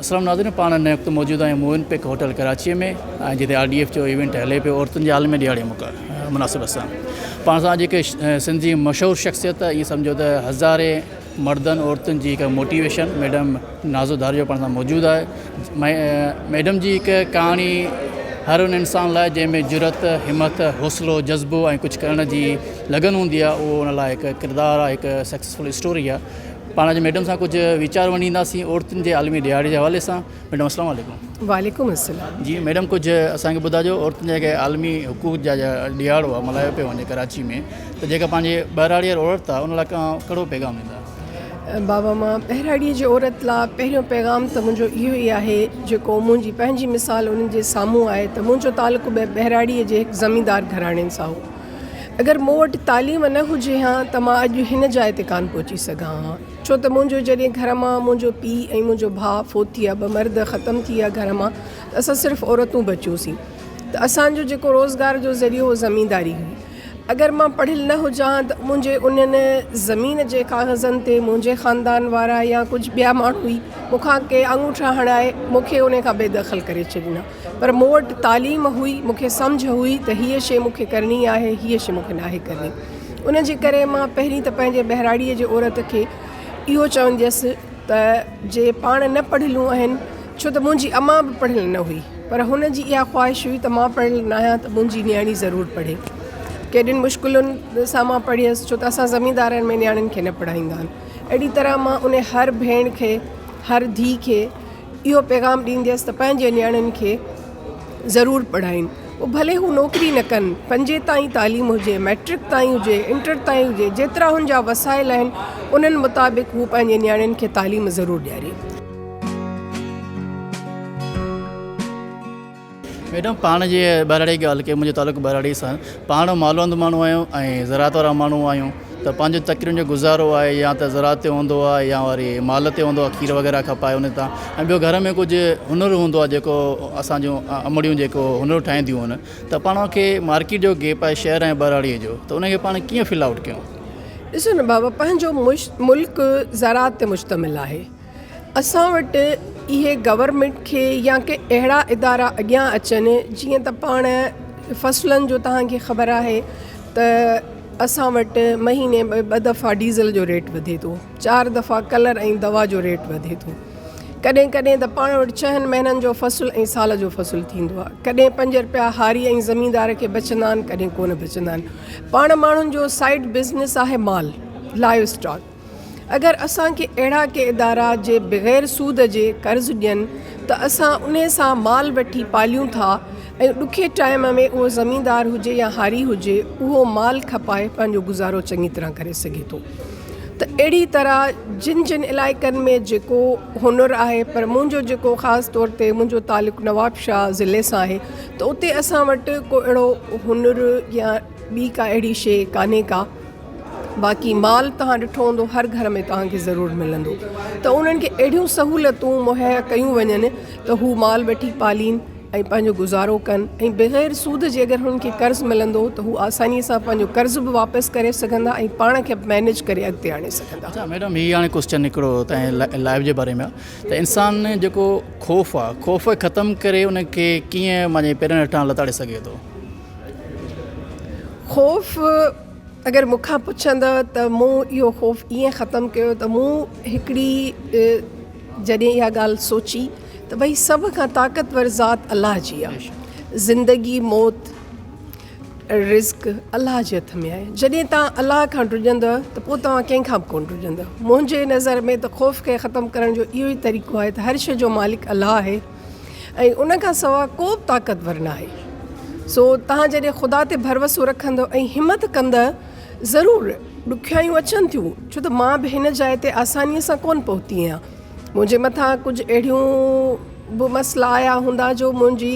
السلام ناظرين پاڻ هن وقت موجود آهيون موئن پيڪ هوٽل ڪراچي ۾ ۽ جتي آر ڊي ايف جو ايونٽ هلي پيو عورتن جي عالمي ڏهاڙي موقعي مناسبت سان پاڻ سان جيڪي سنڌي مشهور شخصيت ائين سمجهو ته هزارين مردن عورتن جي هڪ موٽيويشن ميڊم نازو ڌاريو پاڻ سان موجود آهي ميڊم جي هڪ ڪهاڻي هر ان انسان لاء جنهن ۾ جرت همت حوصلو جذبو ۽ ڪجهه ڪرڻ جي لگن هوندي آهي اهو ان لاء هڪ ڪردار آهي هڪ سڪسيسفل اسٽوري آهي پاڻ اڄ ميڊم سان ڪجهه ويچار ونڊينداسين عورتن جي عالمي ڏهاڙي جي حوالي سان ميڊم السلام عليڪم وعليڪم السلام جي ميڊم ڪجهه اسان کي ٻڌاجو عورتن جا جيڪي عالمي حقوق جا ڏهاڙو آ ملهايو پيو وڃي ڪراچي ۾ ته جيڪا پنهنجي ٻهراڙي عورت آ ان لاء ڪهڙو پيغام ڏيندا بابا مان ٻهراڙي جي عورت لاء پهريون پيغام ته منهنجو اهو ئي آهي جيڪو منهنجي پنهنجي مثال انهن جي سامهون آهي ته منهنجو تعلق به ٻهراڙي جي هڪ زميندار گهراڻي سان هو اگر مون وٽ تعليم نه هجي ها ته مان اڄ هن جاء تي ڪانه پهچي سگهان ها. ڇو ته منهنجو جڏهن گهر مان منهنجو پيء ۽ منهنجو ڀاء فوت ٿي ويا، ٻه مرد ختم ٿي ويا گهر مان ته اسان صرف عورتون بچيوسين ته اسان جو جيڪو روزگار جو ذريعو اهو زمينداري هئي. اگر مان پڙهيل نه هجان ها ته منهنجي انهن زمين جي ڪاغذن تي منهنجي خاندان وارا يا ڪجهه ٻيا ماڻهو ئي مون کان ڪي آڱوٺا هڻائي مون کي انهي کان بي دخل ڪري ڇڏين ها. پر مون وٽ تعليم هئي، مون کي سمجهه هئي ته هيء شيء مون کي ڪرڻي آهي، هيء شيء مون کي ناهي ڪرڻي. ان جي ڪري مان پهرين ته پنهنجي ٻهراڙيء جي عورت کي اهو چونديس ته جي پاڻ نه پڙهيلون آهن، ڇو ته منهنجي امان به پڙهيل نه هئي، پر هن جي اها خواهش هئي ته مان پڙهيل ناهيان ته منهنجي نياڻي ضرور پڙهي. ڪيڏين مشڪلن سان مان پڙهيس، ڇو ته اسان زميندارن ۾ نياڻين کي نه پڙهائيندا آهن. اهڙي طرح مان انهي هر ڀيڻ کي، هر ڌيء کي، اهو پيغام ڏينديس ته پنهنجي نياڻين کي ضرور پڙهائين پوء ڀلي هو نوڪري نه ڪن پنجين تائين تعليم هجي مئٽرڪ تائين هجي انٽر تائين هجي جيترا هن جا وسائل آهن انهن مطابق هو پنهنجي نياڻين کي تعليم ضرور ڏياري. ميڊم پاڻ جي ٻهراڙي جي ڳالهه ڪئي منهنجو تعلق ٻهراڙي سان پاڻ مالوند ماڻهو آهيون ۽ زراعت وارا ماڻهو آهيون ته پنهنجو تڪرين جو گذارو آهي يا ته زراعت تي هوندو آهي يا وري مال تي هوندو آهي کير وغيره کپائي ان تان ۽ ٻيو گهر ۾ ڪجهه هنر هوندو آهي جيڪو اسان جون امڙيون جيڪو هنر ٺاهينديون آهن ته پاڻ کي مارڪيٽ جو گيپ آهي شهر ۽ ٻهراڙي جو ته ان کي پاڻ ڪيئن فل آوٽ ڪيون. ڏسو نه بابا پنهنجو ملڪ زراعت تي مشتمل آهي اسان وٽ اهي گورنمينٽ کي يا ڪي اهڙا ادارا اڳيان اچن جيئن ته پاڻ فصلن جو تهان کي خبر آهي ته اسان وٽ مهيني ۾ ٻه دفعا ڊيزل جو ريٽ وڌي ٿو چار دفعا ڪلر ۽ دوا جو ريٽ وڌي ٿو ڪڏهن ڪڏهن ته پاڻ وٽ چهن مهينن جو فصل ۽ سال جو فصل ٿيندو آهي ڪڏهن پنج رپيا هاري ۽ زميندار کي بچندا آهن ڪڏهن ڪونه بچندا آهن پاڻ ماڻهن جو سائيڊ بزنس آهي مال لائيو اسٽاڪ اگر اسان کي اهڙا ڪي ادارا جي بغير سود جي قرض ڏين ته اسان انهي سان مال وٺي پاليون ٿا ۽ ڏکي ٽائيم ۾ اهو زميندار هجي يا هاري هجي اهو مال کپائي پنهنجو گذارو چڱي طرح ڪري سگهي ٿو ته اهڙي طرح جن جن علائقن ۾ جيڪو هنر آهي پر منهنجو جيڪو خاص طور تي منهنجو تعلق نوابشاهه ضلعي سان آهي ته اتي اسان وٽ ڪو اهڙو هنر يا ٻي ڪا اهڙي شيء ڪانهي ڪا باقي مال توهان ڏٺو هوندو هر گهر ۾ توهان کي ضرور ملندو ته انهن کي اهڙيون سهولتون مهيا ڪيون وڃن ته هو مال وٺي پالين ۽ پنهنجو گذارو ڪن ۽ بغير سود جي اگر هنن کي قرض ملندو ته هو آساني سان پنهنجو قرض به واپس ڪري سگهندا ۽ پاڻ کي مينيج ڪري اڳتي آڻي سگهندا. اڇا ميڊم هي هاڻي ڪوسچن هڪڙو تنهنجي لائف جي باري ۾ آ ته انسان ۾ جيڪو خوف آ خوف کي ختم ڪري ان کي ڪيئن مانجي پيرن هيٺان لتاڙي سگهي ٿو. خوف اگر مون کان پڇندء ته مون اهو خوف ائين ختم ڪيو ته مون هڪڙي جڏهن اها ڳالهه سوچي ته ڀئي سڀ کان طاقتور ذات الله جي آهي زندگي موت رزق الله جي هٿ ۾ آهي جڏهن توهان الله کان ڊڄندء ته پوء توهان ڪنهن کان به ڪونه ڊڄندء منهنجي نظر ۾ ته خوف کي ختم ڪرڻ جو اهو ئي طريقو آهي ته هر شيء جو مالڪ الله آهي ۽ ان کان سوا ڪو به طاقتور ناهي. سو توهان جڏهن خدا تي ڀروسو رکندؤ ۽ همت ڪندؤ، ضرور ڏکيائيون اچن ٿيون، ڇو ته مان به هن جاء تي آسانيء سان ڪونه پهتي آهيان. منهنجي مٿان ڪجهه اهڙيون به مسئلا آيا هوندا جو منهنجي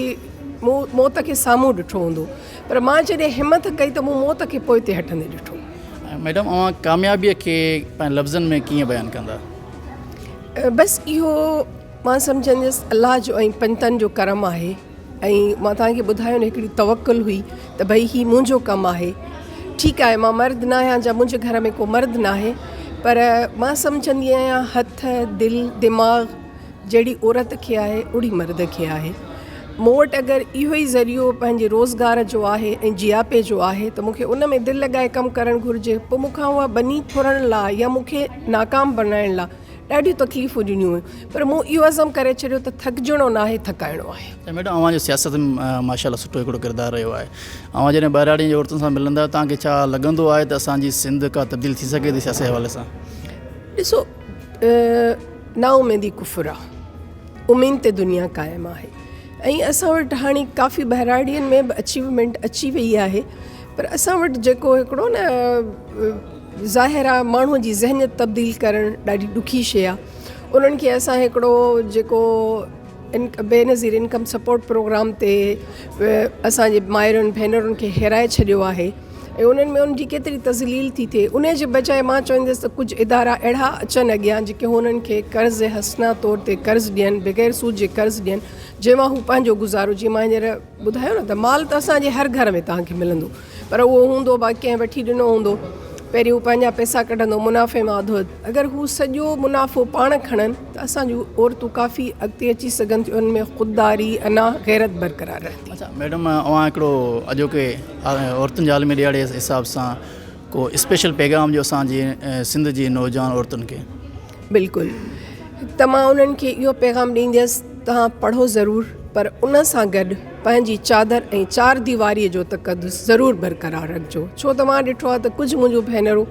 مون موت کي سامهون ڏٺو هوندو، پر مان جڏهن همت ڪئي ته مون موت کي پوئتي هٽندي ڏٺو. ميڊم اوهان ڪاميابيء کي پنهنجي لفظن ۾ ڪيئن بيان ڪندا؟ بس اهو. مان سمجهنديس الله جو ۽ پنهتن جو ڪرم آهي ۽ مان توهان کي ٻڌايو نه هڪڙي توڪل هئي ته ڀئي هي منهنجو ڪم آهي ٺيڪ آهي مان مرد نه آهيان جا منهنجي گهر ۾ ڪو مرد ناهي پر مان سمجهندي آهيان هٿ دل دماغ جهڙي عورت کي آهي اڙي مرد کي آهي مون وٽ اگر اهو ئي ذريعو پنهنجي روزگار جو آهي ۽ جياپي جو آهي ته مون کي ان ۾ دل لڳائي ڪم ڪرڻ گهرجي پوء مون کان اها ٻني ڦرڻ لا يا مون کي ناڪام بنائڻ لا ڏاڍيون تڪليفون ڏنيون هيون پر مون اهو عزم ڪري ڇڏيو ته ٿڪجڻو ناهي ٿڪائڻو آهي. ۽ ميڊم اوهان جو سياست ۾ ماشاء الله سٺو هڪڙو ڪردار رهيو آهي اوهان جڏهن ٻهراڙين جي عورتن سان ملندا آهيو توهان کي ڇا لڳندو آهي ته اسان جي سنڌ ڪا تبديل ٿي سگهي ٿي سياسي حوالي سان؟ ڏسو نا اميدي ڪفر آهي اميد تي دنيا قائم آهي ۽ اسان وٽ هاڻي ڪافي ٻهراڙين ۾ به اچيومينٽ اچي وئي آهي پر اسان وٽ جيڪو هڪڙو نه ظاهر آ ماڻهو جي ذهنيت تبديل ڪرڻ ڏاڍي ڏکي شي آ انهن کي اسان هڪڙو جيڪو ان Benazir income support programme تي اسان جي مائرن ڀينرن کي هيرائي ڇڏيو آهي ۽ انهن ۾ ان جي ڪيتري تذليل ٿي ٿئي ان جي بجاء مان چوندس ته ڪجهه ادارا اهڙا اچن اڳيان جيڪي هنن کي قرض حسنا طور تي قرض ڏين بغير سود جي قرض ڏين جنهن مان هو پنهنجو گذارو جيئن مان هينئر ٻڌايو نه ته مال ته اسان جي هر گهر ۾ توهان کي ملندو پر اهو هوندو باقي ڪنهن وٺي ڏنو هوندو. پهرين هو پنهنجا پئسا ڪڍندو منافعي مان اڌ وڌ. اگر هو سڄو منافعو پاڻ کڻن ته اسان جون عورتون ڪافي اڳتي اچي سگهن ٿيون ان ۾ خودداري، انا، غيرت برقرار رهندي. اڇا ميڊم اوهان هڪڙو اڄوڪي عورتن جي عالمي ڏهاڙي جي حساب سان ڪو اسپيشل پيغام ڏيو اسان جي سنڌ جي نوجوان عورتن کي. بلڪل ته مان انهن کي اهو پيغام ڏينديس توهان پڙهو ضرور پر ان سان گڏ پنهنجي چادر ۽ چار ديواري جو تقدس ضرور برقرار رکجو ڇو ته مان ڏٺو آهي ته ڪجهه منهنجون ڀينرون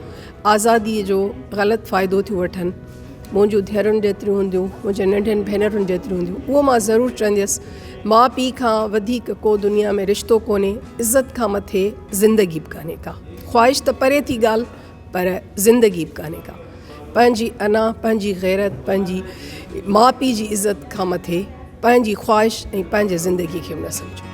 آزادي جو غلط فائدو ٿيون وٺن منهنجون ڌيئرن جيتريون هونديون منهنجي ننڍين ڀينرن جيتريون هونديون اهو مان ضرور چونديس ماء پيء کان وڌيڪ ڪو دنيا ۾ رشتو ڪونهي عزت کان مٿي زندگي به ڪانهي ڪا خواهش ته پري ٿي ڳالهه پر زندگي به ڪانهي ڪا. پنهنجي انا، پنهنجي غيرت، پنهنجي ماء پيء جي عزت کان مٿي پنهنجي خواهش ۽ پنهنجي زندگي کي به نه سمجهو.